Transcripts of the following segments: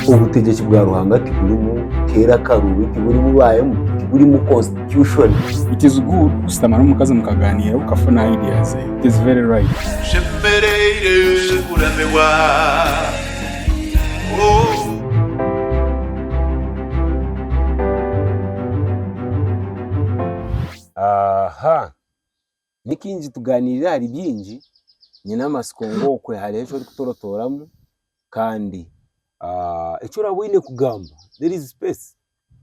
Obutegyeki bwa Ruhanga tiburimu keera akaruubi, tiburimu baayemu, tiburimu constitution. It is good kushutama n'omukazi mukagaaniira okafuna idea ze. It is very right. Nshemereire kuramirwa oh. Aha! Ni kaingi tugaaniirira ahari bingi, nyine amatsiko ngu okwe hariho eki orikutorotooramu kandi eki oraabe oine kugamba there is space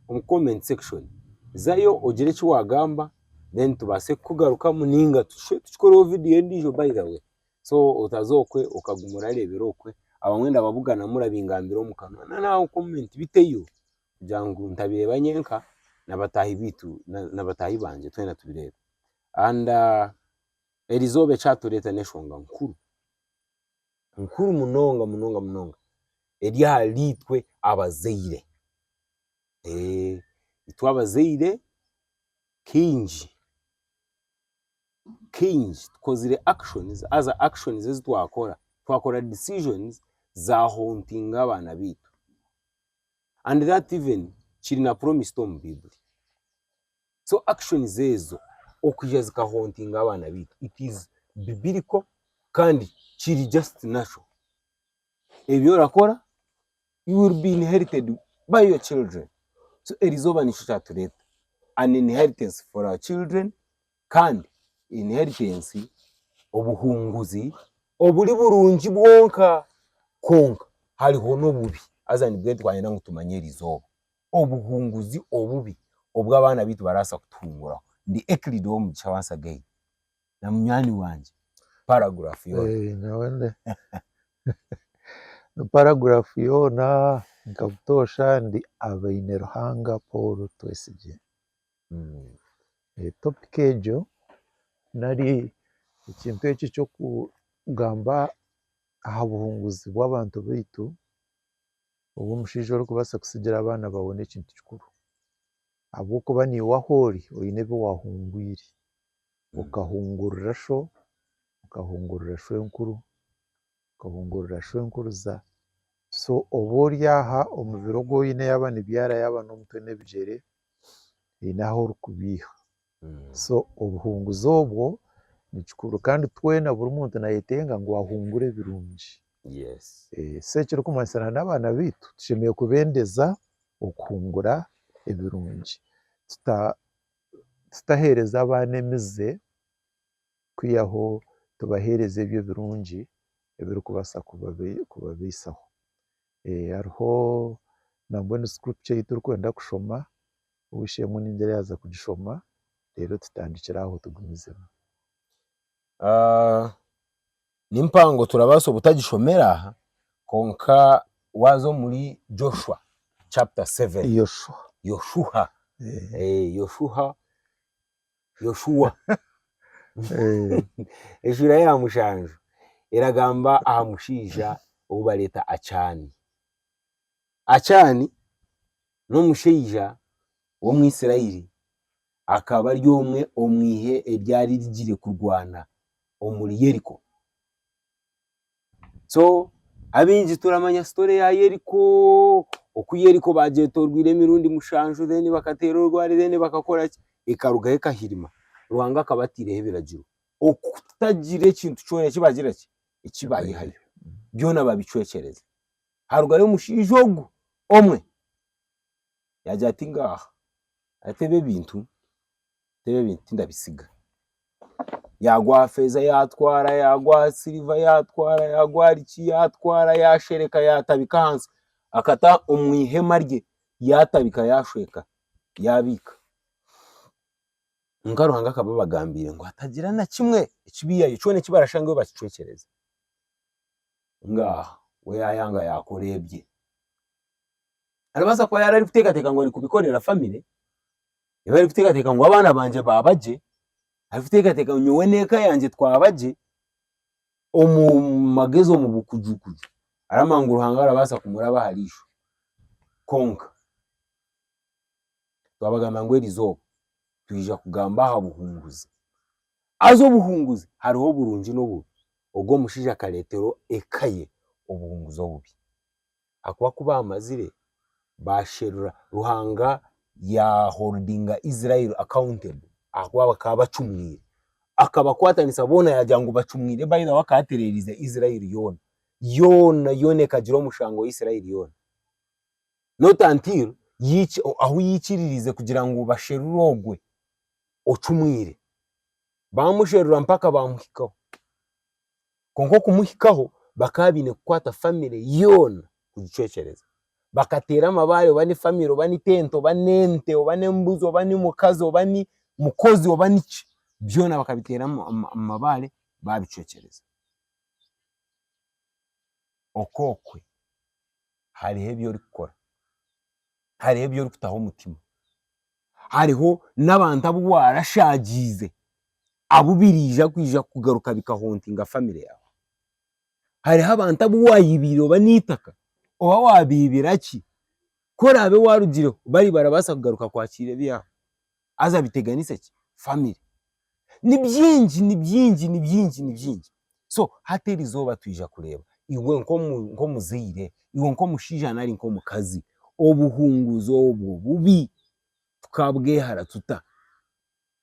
omu comment section, zayo ogire eki waagamba then tubaase kukugarukamu nainga tushube tukikoreho vidiyo endiijo by the way so otaza okwe okaguma orareebera okwe abamwe ndababuganamu orabingambira omu kanwa nari aha comment biteyo. kugira ngu ntabireeba nyenka na bataahi baitu na bataahi bangye twena tubireebe and eri izooba eki aatureeta n'enshonga nkuru, nkuru munonga munonga munonga eri ahari itwe abazaire, itwe abazaire kaingi kaingi tukozire actions haza actions ezi twakora, twakora decisions za hauntinga abaana baitu. And that even kiri na promised omu Bible. So actions ezo okwija zika hauntinga abaana baitu it is biblical kandi kiri just natural. Ebi orakora you will be inherited by your children. So eri izooba nikyo kyatureta an inheritance for our children. kandi inheritensi, obuhunguzi, oburi burungi bwonka. Kwonka hariho n'obubi, haza nibwe twayenda ngu tumanye eri izooba. Obuhunguzi obubi obu abaana baitu barabaasa kutuhunguraho. Ndi Euclid ow'omu gisha once again na munywani wangye, paragraph yoona. Ni paragraph yoona nka butoosha ndi Abaineruhanga Paul Twesigye. Topic egyo nari ekintu ekyo eky'okugamba aha buhunguzi bw'abantu baitu, obu omushaija orikubaasa kutsigira abaana baawe n'ekintu kikuru ahabw'okuba naiwe ahu ori oine ebi waahungwire, okahungurira sho, okahungurira shwenkuru Nkahungurira shwenkuruza so oba ori aha omubiri ogu oine yaaba nibyara yaaba n'omutwe n'ebigyere haine ahu orikubeiha so obuhunguzi obwo ni kikuru kandi twena buri muntu nayetenga ngu ahungure ebirungi so ekirikumanyisa na n'abaana baitu tushemereire kubendeza okuhungura ebirungi tutahereza abaana emize. kwihaho tubaheereze ebyo birungi ebirikubaasa kubabaisaho. Hariho nambwenu scripture ei turikwenda kushoma, ow'eishe-emwe ningira yaaza kugishoma reero tutandikire aho tugumizemu. Ni mpango turabaasa obutagishomera aha, kwonka waaza omuri Joshua chapter seven, Yoshua. Yoshuha, Yoshuha Yoshua. Eh, Eshuura ya mushanju eragamba aha mushaija ou bareeta Acaani. Acaani n'omushaija w'Omwisiraeli akaba ari omwe omu ihe eryari rigire kurwana omuri Yeriko. so abaingi turamanya sitori ya yeriko oku yeriko bagyetorweire emirundi mushanju deni bakateera orwari deni bakakora ki ekarugaho ekahirima Ruhanga akaba ataireho ebiragiro okutagira ekintu kyona eki bagira ki eki bayihayo byona babicwekyereza harugayo omushaija ogu omwe yagira ati ngaaha ati ebi ebintu ebi ebintu tindabitsiga. Yaagwa aha feeza yaatwara, yaagwa aha siriva yaatwara, yaagwa ahari ki yaatwara, yaashereka yaatabika ahansi, akata omu ihema rye yaatabika yaashweka yaabiika. Kwonka Ruhanga akaba abagambiire ngu hatagira na kimwe ekibaihayo kyona eki barashangayo bakicwekyereze. Mbwenu aha we yaayanga yaakora ebye, arabaasa kuba yaari arikuteekateeka ngu arikubikorera famire ei barikuteekateeka ngu abaana bangye baaba gye, arikuteekateeka ngu nyowe n'eka yangye twaba gye, omu magezi omu bukujukuju aramanya ngu Ruhanga arabaasa kumuraba ahari ishwe. Kwonka twabagambira ngu erizooba twija kugamba aha buhunguzi, haza obuhunguzi hariho oburungi n'obubi, ogwo omushaija akareeterwa eka ye obuhunguzi obubi. ahakuba ku baamazire baasherura Ruhanga yaaholdinga Israeli accountable ahakuba bakaba bacumwire, akabakwatanisa boona yaagira ngu bacumwire by the way akaba atereerize Israeli yoona yoona yoona ekagira omushango Israeli yoona not until ahu yaikiririize kugira ngu basherure ogwe ocumwire baamusherura mpaka baamuhikaho. Kwonka okumuhikaho bakaba baine kukwata famire yoona kugicwekyereza. Bakateera amabaare oba ni famire oba ni tente oba ni ente oba ni embuzi oba ni mukazi oba ni mukozi oba ni ki, byoona bakabiteera amabaare baabicwekyereza. Okookwe hariho ebi orikukora, hariho ebi orikutaho omutima hariho n'abantu abu waarashaagiize abu biraija kwija kugaruka bikahontinga famire yaawe. Hariho abantu abu waayibiire oba n'eitaka, oba waabeebera ki, ku oraabe waarugireho bari barabaasa kugaruka kwakiira ebyabo haza biteganise ki famire. Ni bingi, ni bingi, ni bingi, ni bingi. So hati erizooba twija kureeba iwe nk'omuzaire, iwe nk'omushaija nari nk'omukazi, obuhunguzi obwo bubi tukabwehara tuta?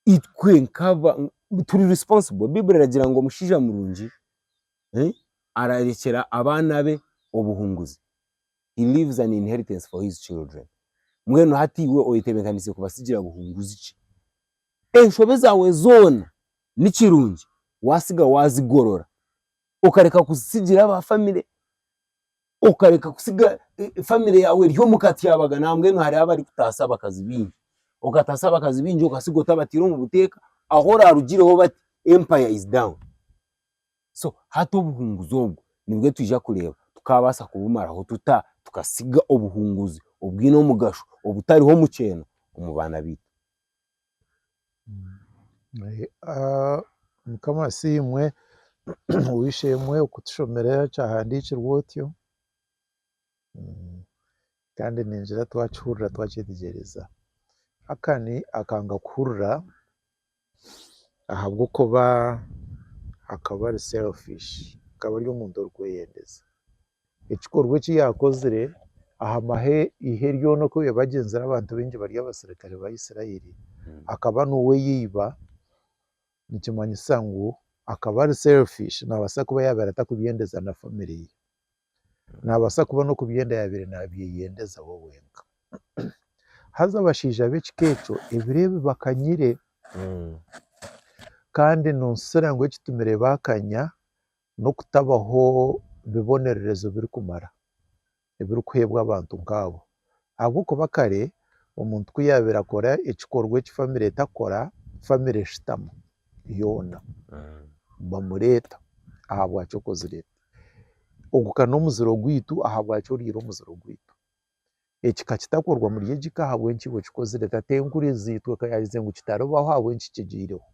Itwe nk'abantu turi responsible. Baiburi eragira ngu omushaija murungi ararekyera abaana be obuhunguzi, he leaves an inheritance for his children. Mbwenu hati iwe oyetebeekanise kubatsigira buhunguzi ki? Enshobe zaawe zoona ni kirungi waatsiga waazigorora, okareka kuzitsigira aba famire, okareka kutsiga famire yaawe eri omu katyabaga nawe mbwenu hariho abarikutaasa abakazi baingi, okataasa abakazi baingi okatsiga otabataire omu buteeka ahu oraarugireho bati empire is down. So hati obuhunguzi obwo nibwo twija kureeba tukaabaasa kubumaraho tuta tukatsiga obuhunguzi obwine omugasho obutariho mukyeeha omu baana baitu. Mukama asiimwe, ow'eishe-emwe kutushomera ekyahandiikirwe otyo, kandi ningira twakihurira twakyetegyereza. Akani akanga kuhurira ahabw'okuba akaba ari selfish, akaba ari omuntu orikweyendeza. ekikorwa eki yaakozire aha mahe ihe ryona oku yabagyenzire abantu baingi bari abasirikare ba Isiraeli, akaba n'ow'eiba, nikimanyisa ngu akaba ari selfish, naabaasa kuba yaabaire atakubyendeza na famire ye, naabaasa kuba n'okubyenda yaabaire naabyeyendeza we wenka. Haza abashaija b'ekika ekyo ebiro ebi bakanyire kandi noonshushura ngu ekitumire baakanya n'okutabaho bibonererezo birikumara ebirikuheebwa abantu nk'abo. Ahabw'okuba kare omuntu ku yaabaire akora ekikorwa eki famire etakora, famire eshutama yoona bamureeta ahabwaki okozire eki. Ogu ka n'omuziro gwaitu ahabwaki oriire omuziro gwaitu. Eki ka kitakorwa omuri egi ka ahabw'enki iwe okikozire. Ka tenkuriizi itwe ka yaaherize ngu kitaribaho ahabw'enki kigyireho.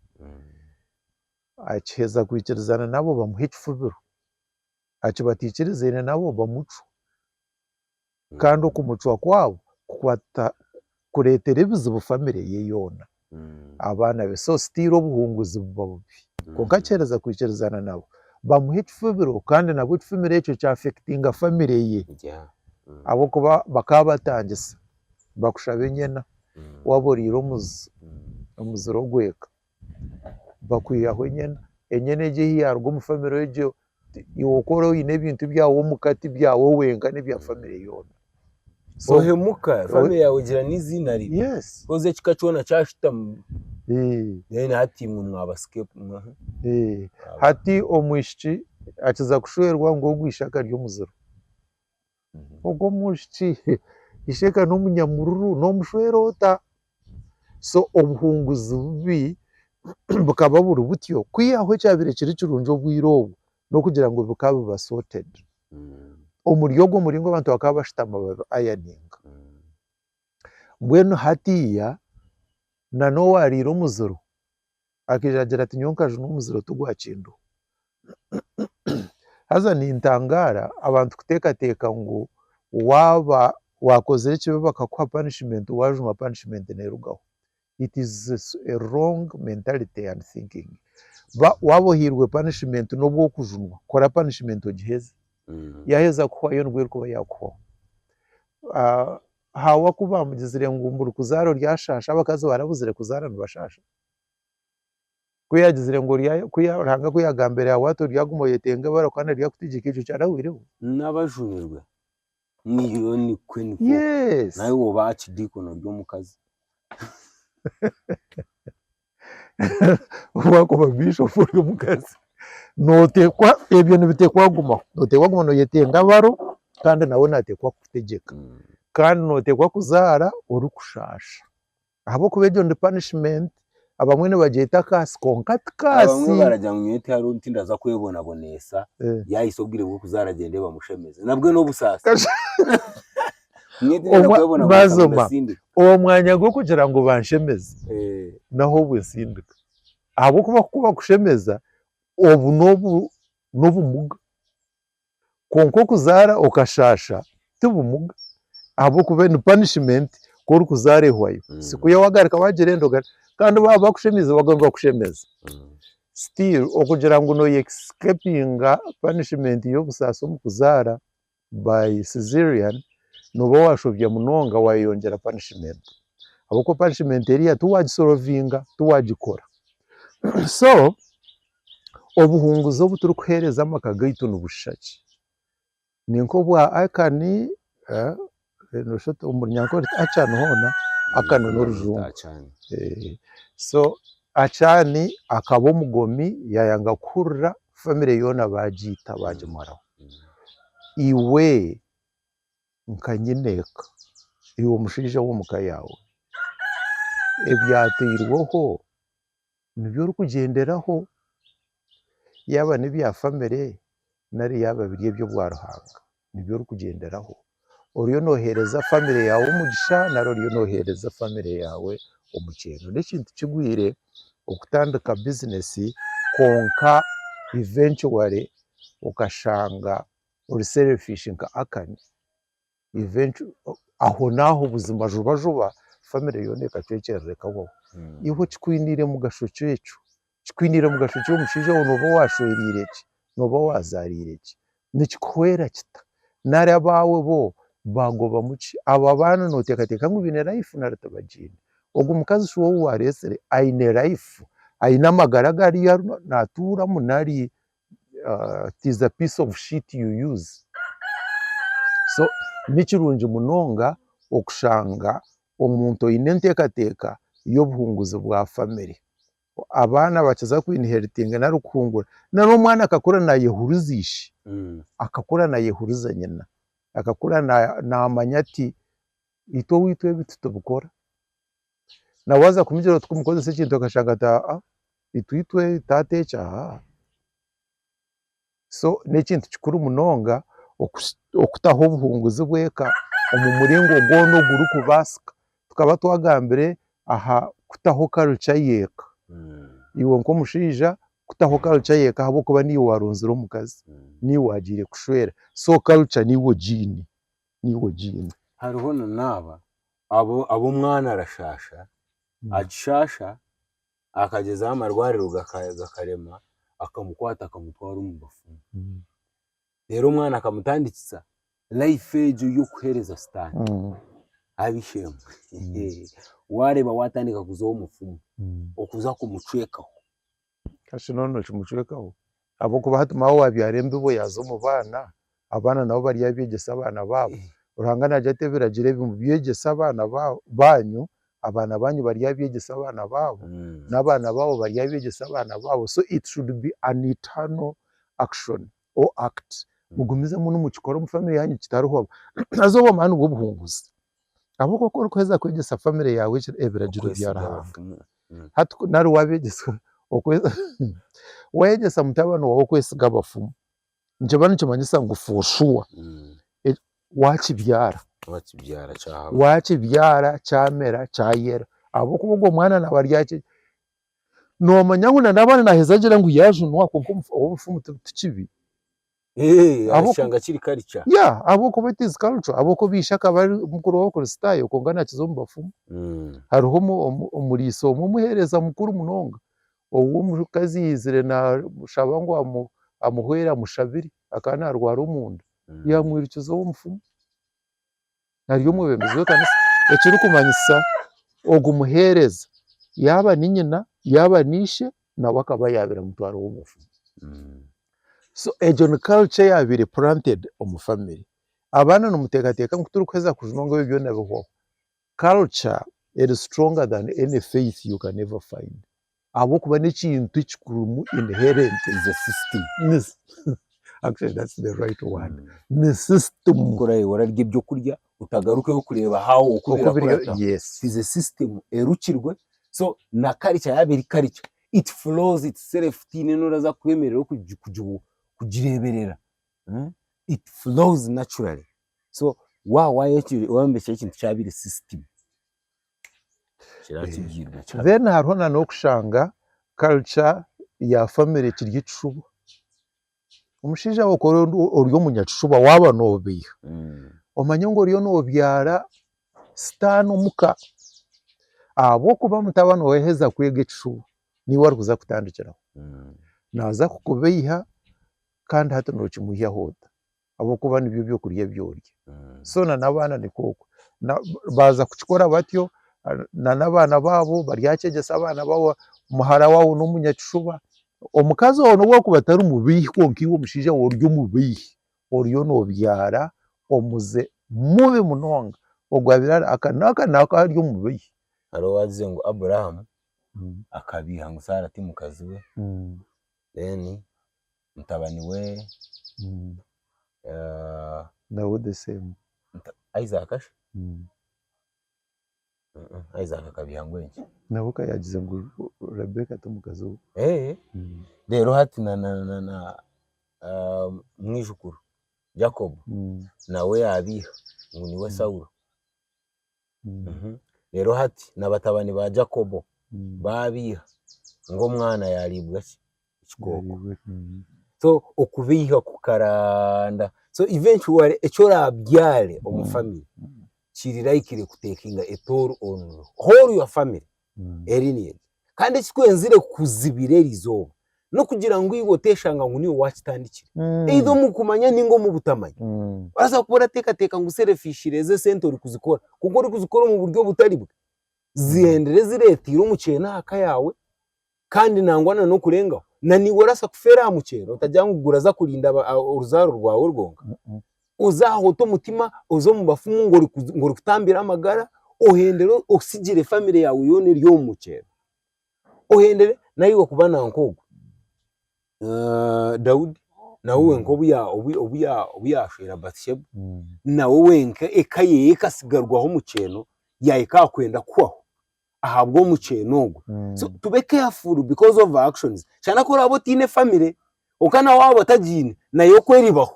Akiheza kwikirizana nabo bamuha ekifubiro, aki batikirizaine nabo bamucwa. Kandi okumucwa kwabo kukwata kuretera ebizibu family ye yoona, abaana be. So still obuhunguzi buba bubi. Kwonka akiheza kwikirizana nabo bamuha ekifubiro kandi nabwo ekifumiro ekyo kya affectinga family ye. Ahabw'okuba bakaba batangisa bakushaba enyena waba oriire omuzi, omuzire ogweka. bakwihaho enyana, enyana egyo eyi yaruga omu famire egyo iwe oku ori oyine ebintu byawe omuka tibyawe wenka nebya famire yoona. Ohemuka famire yawe egira neiziina ribi haza ekika kyoona kyahitamu then hati imwe mwaba scape hati omwishiki akiza kushwerwa ngu ogwe ishaka ryomuziro. ogwo omwishiki ishega n'omunyamururu n'omushwere ota so obuhunguzi bubi bukaba buri butyo kwihaho ekyabire kiri kirungi obwire obwo n'okugira ngu bikaba biba sorted omuri ogwo muringo abantu bakaba bashutama babi ironinga mbwenu hatiya na n'owarire omuziro Akaija agira ati nyowe nkajunwa omuziro tigwa kinduho. Haza nintangaara abantu kuteekateeka ngu waaba waakozire ekibi bakakuha punishment waajunwa punishment neerugaho. It is a wrong mentality and thinking. Ba waaba ohairwe punishment n'obu okujunwa kora punishment ogiheze. Yaaheza kukuhwayo nibwo erikuba yaakuhwaho. Haawa ku baamugizire ngu mburi kuzaara oryashaasha abakazi baarabuzire kuzaara nibashaasha? Ku yaagizire ngu Ruhanga ku yaagambire aha bwato ryaguma oyetenga ebara kandi ryakutegyeka ekyo kyarahwireho. N'abajunirwe niyo nikwo nikwo. Yes. Nawe woba aha kidiikono ry'omukazi. Waakuba Bishop ori omukazi nooteekwa ebyo nibiteekwa kugumaho. Nooteekwa kuguma nooyetenga abaro kandi nawe naateekwa kukutegyeka. Kandi nooteekwa kuzaara orikushaasha. ahabw'okuba egyo ni punishment, abamwe nibagyeta akaatsi kwonka ti kaatsi. Abamwe baragira ngu nyowe tihariho ondi tindaza kwebonaboneesa, Eh. yaahisa obwire bw'okuzaara agyende bamushemeze. Nabwe n'obusaasi. Kasha- Nyowe tindaza Omwa- kwebonaboneesa ngu Bazoma. ndasindika. owo mwanya gw'okugira ngu banshemeze Eh, naho obwe nsindika ahabw'okuba ku bakushemeza obu n'obu n'obumuga Kwonka okuzaara okashaasha ti bumuga ahabw'okuba ni punishment ku orikuzaara ehwayo. Si kuhitsya waagarika waagira enda ogarukire. Kandi baaba bakushemeize baguma nibakushemeza. Still okugira ngu nooye escapinga punishment y'obusaasi omu kuzaara by cesarean, nooba waashobya munonga waayeyongyera punishment. Ahabw'okuba punishment eriiya tiwaagikoraho, tiwaagikora. So Obuhunguzi obu turikuheereza amaka gaitu nibushuusha ki? Ni nk'obwa Acani, noshusha oti omu Runyankore oti Acani hoona, Acani n'orujungu. So Acani akaba omugomi, yaayanga kuhurira famire yoona baagiita baagimaraho. Iwe nka nyineeka, iwe mushaija w'omu ka yaawe, ebyateirweho nibyo orikugyenderaho yaaba nebya famire nari yaaba biri eby'obwa Ruhanga nibyo orikugyenderaho oriyo noheereza famire yaawe omugisha nari oriyo noheereza famire yaawe omukyeno. N'ekintu kigwire okutandika bizinesi kwonka eventually okashanga ori serifishi nka Akani. aho naaho buzima juba juba famire yoona ekacwekyerera ekahwaho. Iwe kikwiniire mugasho ki ekyo? Kikwiniire mugasho ki omushaija ou nooba waashwereire ki, nooba waazaariire ki? Nikikuhwera kita? Nari abaawe bo baagobamu ki? Abo abaana nooteekateeka ngu baine layifu nari tibagiine? Ogwo mukazi shi ou waareetsire aine layifu, aine amagara agu ariyo naatuuramu nari it is a piece of shit you use so nikirungi munonga okushanga omuntu oyine entekateka y'obuhunguzi bwa family abaana bakiza ku inheritinga nari kuhungura nari omwana akakura nayehuriza ishi akakura nayehuriza nyina akakura namanya ati itwe oweitu ebi titubikora. na waza kumugyera oti kumukozesa ekintu akashanga ati aa itwe itwe taata ekyo aa so n'ekintu kikuru munonga okushi okutaho obuhunguzi bw'eka omu muringo gwona ogurikubaasika, tukaba twagambire aha kutaho culture y'eka, iwe nk'omushaija kutaho culture y'eka ahabw'okuba niiwe warunzire omukazi, niiwe waagiire kushwera so culture niiwe ogiine, niiwe ogiine. Hariho na naaba Abo abu omwana arashaasha, akishaasha, akagyezaho amarwariro gaka gakarema, akamukwata akamutwara omu bafumu. Reero omwana akamutandikisa life egyo y'okuheereza sitaane. Haabe eishe-emwe, waareeba waatandika kuza omu mufumu, okuza kumucwekaho. Eki nooba nokimucwekaho ahabw'okuba hati maawe waabyara embibo yaaza omu baana, abaana nabo baryabyegyesa abaana baabo. Ruhanga naagira ati ebiragiro ebi mubyegyese abaana baanyu, abaana baanyu baryabyegyesa abaana baabo, n'abaana baabo baryabyegyesa abaana baabo, so it should be an eternal action or act. Mugumizemu nimukikora omu family yaanyu kitariho haza obwo amaani nibwo buhunguzi. Ahabw'okuba ku orikuheeza kwegyesa famire yaawe ebiragiro bya Okwesiga Ruhanga, abafumu. Mm. hati ku nari waabeegyesa okwe- waayegyesa mutabani waawe okwesiga abafumu, nikiba nikimanyisa ngu for sure Mm. waakibyara, Waakibyara kyahaba. waakibyara kyamera kyayera ahabw'okuba ogwo mwana naaba ari aha ki, noomanya ngu nari abaana naaheza agire ngu yaajunwa kwonka obu- obufumu ti- tikibi. Eh, Abo- ashanga kiri karica. ya ahabw'okuba it is culture ahabw'okuba ishe akaba ari mukuru w'abakristaayo kwonka naakiza omu bafumu Mm. hariho omu- omu- omuriisa omwe omuheereza mukuru munonga ou omukazi yaizire naamushaba ngu amu- amuhwere amushabire akaba naarwara omunda Mm. yaamwirukiza ow'omufumu ari omwebembezi w'ekanisa ekirikumanyisa ogu muheereza yaaba ni nyina yaaba ni ishe nawe akaba yaabaire amutwara ow'obufumu. So egyo ni culture eyaabaire planted omu family. Abaana nimuteekateeka ngu tirikuheza kujunwa ngu ebyo byona bihwaho? Culture eri stronger than any faith you can ever find. ahabw'okuba n'ekintu ekikurimu inherent in the system actually that's the right word ni system Ku oraabe orarya eby'okurya otagarukeyo kureeba how oku oku biri birakurataho yes it is a system erukirwe so na culture yaaba eri culture it flows itself tihaine n'oraza kukwemerera okugi kugi kugireeberera umm it flows naturally so wa waayo eki wayombekyera ekintu kyabaire system kiratugirwe kira- then hariho na n'okushanga culture ya family ekiri ekishuba omushaija wawe ku ori omu- ori omunyakishuba waaba noobeiha Mm. omanye ngu oriyo noobyara sitaane omuka ahabw'okuba mutabani waawe yaaheza kwega ekishuba niiwe arikuza kutandikiraho Mm. naaza kukubeiha kandi hati nookimuhyaho ota ahabw'okuba nibyo byokurya ebi orya. So na n'abaana nikwo okwo. Na baaza kukikora batyo, na n'abaana baabo baryakyegyesa abaana baabo, muhara waabo n'omunyakishuba, omukazi waabo n'obu arikuba atari mubeihi kwonka iwe omushaija waabo ori omubeihi, oriyo noobyara omuze mubi munonga. Ogwo abeire ari aka n'aka n'aka ari omubeihi. Hariho owaagize ngu Abrahamu akabeiha ngu Saara ti mukazi we, then. mutabani we Mm. eh, Nawe the same. muta- Isaac shi? Mm. Mm-mm, Isaac akabya ngu enki Nawe ka yaagize ngu Rebecca ti mukazi we. Eh, Mm. reero hati na na na na ah, mwijukuru Jacob Mm. nawe yaabiiha ngu niwe Saulo Reero hati na batabani ba Jakobo baabeiha, ngu omwana yaariibwa ki? Ekikooko. So okubeiha kukaranda. So eventually eki oraabyare omu famire kiri likely kutekinga a toll on the whole your family. lineage. Kandi ekikwenzire kuzibira eri izooba n'okugira ngu iwe oteeshanga ngu niiwe waakitandikire. Either omu kumanya nainga omu butamanya. Orabaasa kuba orateekateeka ngu selfishly ezi esente orikuzikora, kwonka orikuzikora omu buryo obutari bwe. Zihendire zireeteire omu kyeene aha ka yaawe. Kandi nangwa na n'okurengaho. Na naiwe oraasa kufeera aha muceeri, otagira ngu guraza kurinda oruzaaro rwawe rwonka. Oze aho ote omutima, oze omu bafumu ngu ngu orikutambira amagara, ohendere osigire famire yaawe yoona eri omu muceeri. Ohendere naiwe kuba nanka ogwo Daudi, nawe wenka obu ya obu obu ya obu yaashwera Bathisheba, nawe wenka eka ye ekasigarwaho omu kyeno, yaahika aha kwenda kuhwaho. ahabw'omukyeno ogwo so tube careful because of our actions shana ku oraabe otaine family kwonka na waaba otagiine nayo okwo eribaho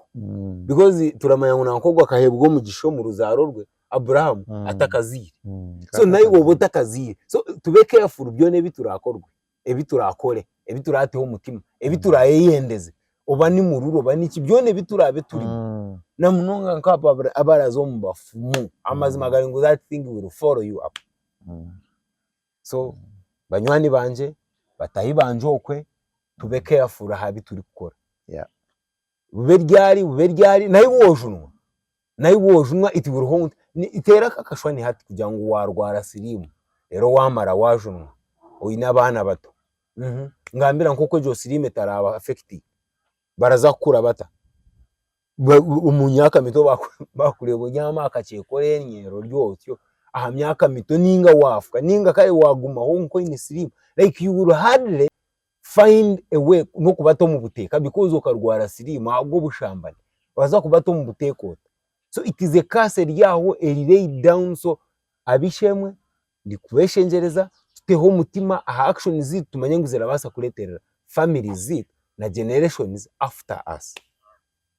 because turamanya ngu nanka ogwo akaheebwa omugisha omu ruzaaro rwe Abrahamu atakazaire so naiwe obe otakazaire so tube careful byona ebi turaakora. ebi turakore, ebi turateho omutima, ebi turayeyendeze, oba ni mururu oba niki, byona ebi turabe turimu. Mm. Na munonga nk'abo abara- abaraza omu bafumu. Amazima gari ngu that thing will follow you up. Mm. So banywani bangye, batahi bangye okwe, tube careful aha bi turikukora. Yeah. Bube ryari bube ryari, nahi woojunwa. naiwe ojunwa it will haunt teera ako akashwani hati kugira ngu waarwara siriimu reero waamara waajunwa oine abaana bato ngambira nk'oku egyo siriimu etaraaba affecting baraza kukura bata omu myaka mito baakureeba obyami aha kakyeka oreenyeera ori otyo aha myaka mito nainga waafwa nainga kare waagumaho kwonka oine siriimu like you will hardly find a way nokubata omu buteeka because okarwara siriimu ahabw'obushambani nobaasa kubata omu buteeka ota, so it is a curse eri aho eri laid down so ab'eishe-emwe ndikubeshengyereza tuteho omutima aha actions ziitu tumanye ngu zirabaasa kureeterera families ziitu na generations after us,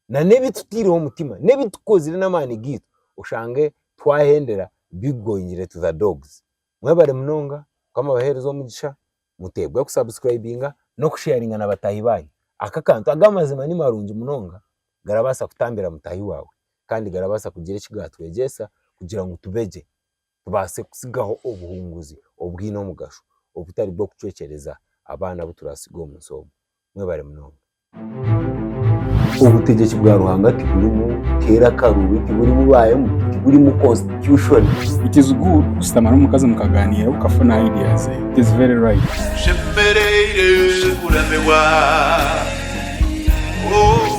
na n'ebi tutaireho omutima n'ebi tukozire n'amaani gaitu oshange twahendera be going to the dogs, mwebare munonga mukama abaheereze omugisha. muteebwe ku subscribinga n'okusheyaringa na bataahi baanyu, aka akantu aga amazima ni marungi munonga garabaasa kutambira mutaahi waawe kandi garabaasa kugira eki gaatwegyesa kugira ngu tube gye tubaase kutsigaho obuhunguzi obwine omugasho obutari bw'okucwekyereza abaana abu turaatsige omu nsi omu, mwebare munonga. Obutegyeki bwa Ruhanga tiburimu teera akaru, tiburimu baayemu, tiburimu constitution. It is good kushutama n'omukazi mukaganiira okafuna ideas ze. It is very right. Tushemereire kuramibwa oh.